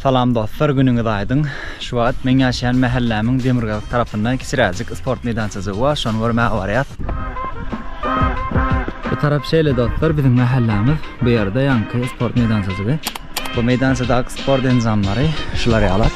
Salam dostlar günüňiz aýdyň. Şu wagt meň ýaşaýan mähellämiň demirgazyk tarapynda kiçiräjik sport meýdançajygy bar şony görmäge barýas. Bu tarap şeýle dostlar biziň mähellämiz bu ýerde ýaňky sport meýdançajygy. Bu meýdançadaky sport enjamlary şular ýalak.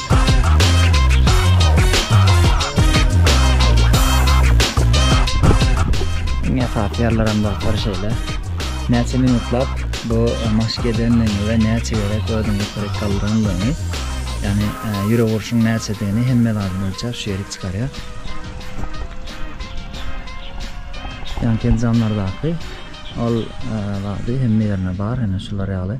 Iň esasy ýerlerem dostlar şeýle. Näçe minutlap bu maşk edenligiňi we näçe gezek özüňi ýokaryk galdyrandygyňy, ýagny e, ýürek urşuň näçedigini hemme zadyny ölçäp şu ýerik çykarýar. Ýanki enjamlardaky ol e, zady hemme ýerine bar, ýene şular ýaly.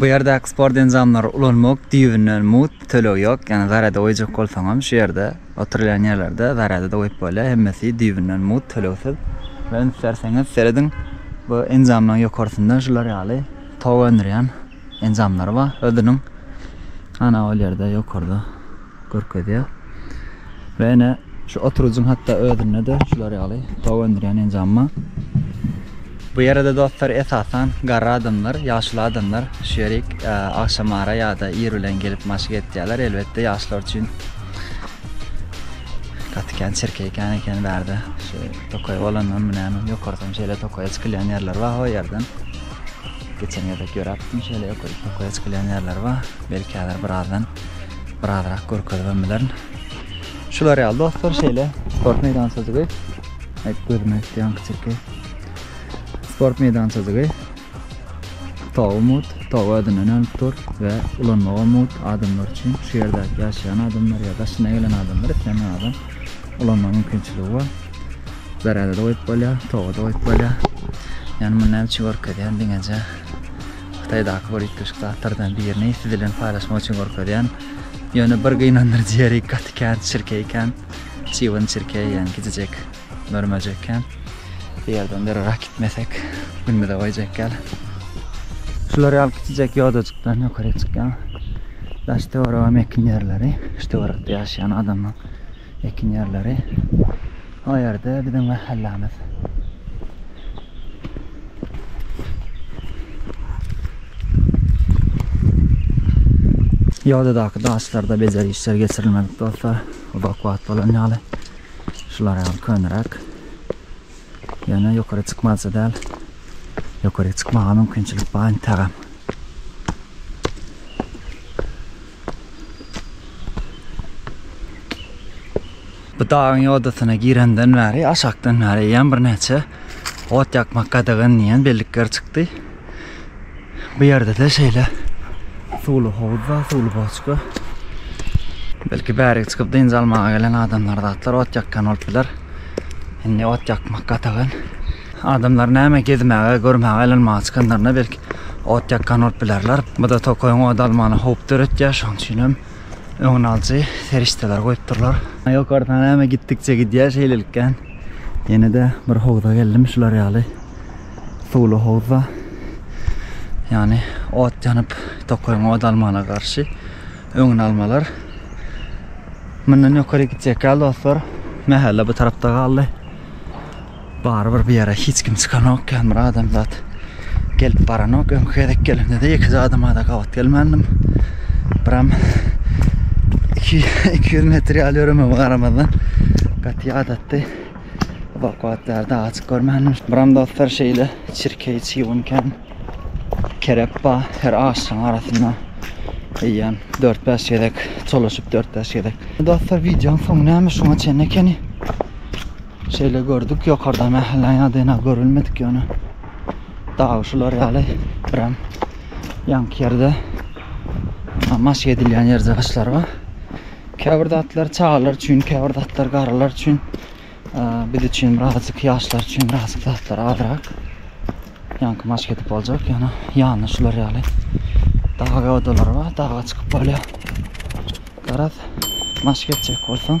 Bu ýerdäki sport enjamlary ulanmak düýbünden mut tölegi ýok, ýagny zarada goýjak bolsaňam şu ýerde oturylýan ýerlerde zarada-da goýup bolýar, hemmesi düýbünden mut tölegsiz we üns berseňiz serediň bu enjamlaryň ýokarsynda şular ýaly tok öndürýän enjamlary bar özüniň ana ol ýerde ýokarda. görkezýär. We ine şu oturujyň hatda özünde-de şular ýaly tok öndürýän enjam bar. Bu ýere-de dostlar esasan garry adamlar, ýaşuly adamlar şu ýerik agşamara ýa-da ir bilen gelip maşk etýärler. Elbetde ýaşlar üçin gaty kän çirkeý kän eken bärde. Şu tokaý bolandanmy näme ýokarsam şeýle tokaýa çykylýan ýerler bar ho ýerden. Geçen gezek ýöräpdim şeýle ýokaryk tokaýa çykylýan ýerler bar. Belki häzir birazdan birazrak görkezibem bilerin. Şular ýaly dostlar şeýle sport meýdançajygy. Aýt gözüme ýan kiçikki. Sport meýdançajygy. Tawy mut, tawy ödünden ölüp dur we ulanmaga mut adamlar üçin şu ýerde ýaşaýan adamlar ýa daşyna gelen adamlar isleýän adam ulanma mümkinçiligi bar. Zarada da goýup bolýar, tawa da goýup bolýar. Ýani muny näme üçin görkezýän diňeje Hytaýdaky bir üýtgeşik zatlardan birini siz bilen paýlaşmak üçin görkezýän. Ýöne bir gynandyryjy ýeri gaty kän çirkeý ekän. Çybyn çirkeý, ýagny kiçijek mör-möjek ekän. Bu ýerden dyrrak gitmesek, günümize goýjak ýaly. Şular ýaly kiçijek ýodajykdan ýokaryk çykýan. Daş-töwerege mekin ýerleri, şu töwerekde ýaşaýan adamlaryň. Ekin ýerleri o ýerde biziň mähellämiz. Ýodadaky daşlarda bejer işler geçirilmedik dostlar. Uzak wagt bolan ýaly. Şular ýaly köneräk. Ýöne ýokary çykmazja däl. Ýokary çykmaga mümkinçilik bar integem. Bu dagyň ýodasyna girenden bäri, aşakdan bäri eýýäm birnäçe ot ýakmak gadagan diýen bellikler çykdy. Bu ýerde-de şeýle suwly howuz bar, suwly boçka. Belki bärige çykyp dynç almaga gelen adamlar zatlar ot ýakýan bolup biler. Indi ot ýakmak gadagan. Adamlar näme gezmäge, görmäge aýlanmaga çykanlarynda belki ot ýakgan bolup bilerler. Bu-da tokaýyň ody almagyna howp döretýär, şonuň üçin hem öňüni alyjy serişdeler goýupdyrlar. Ýokardan näme gitdikçe gidýär şeýlelikden. Ýene-de bir howza geldim, şular ýaly suwly howza. Ýagny ot ýanyp, tokaýyň ody almagyna garşy öňüni almalar. Mundan ýokaryk gitjek ýaly dostlar. Mähelle bu tarapda galdy. Barybir bu ýere hiç kim çykanok, kän bir adamzat gelip baranok. Öňki gezek gelenimde-de ýekeje adama-da gabat gelmändim. Biram iki iki ýüz metr ýaly ýöremegime garamazdan gaty ýadatdy. Bak-bak bäri dagy çyk görmändim. Biram dostlar şeýle çirkeý, çybyn kän kerep bar. Her agşyň arasynda eýýäm dört-bäş gezek çolaşyp, dört-bäş gezek. Dostlar wideonyň soňy näme şuňa çenli ekeni. Şeýle gördük ýokarda mähelle ýadena görülmedik ýöne dagy şular ýaly birem ýanky ýerde maşk edilýän ýer jygyşlar bar. Käbir zatlar çagalar üçin, käbir zatlar garrylar üçin, biz üçin birazjyk ýaşlar üçin birazjyk zatlar azrak. Ýanky maşk edip boljak ýöne ýanynda şular ýaly dag odalar bar, daga çykyp bolýar. Garaz maşk etjek bolsaň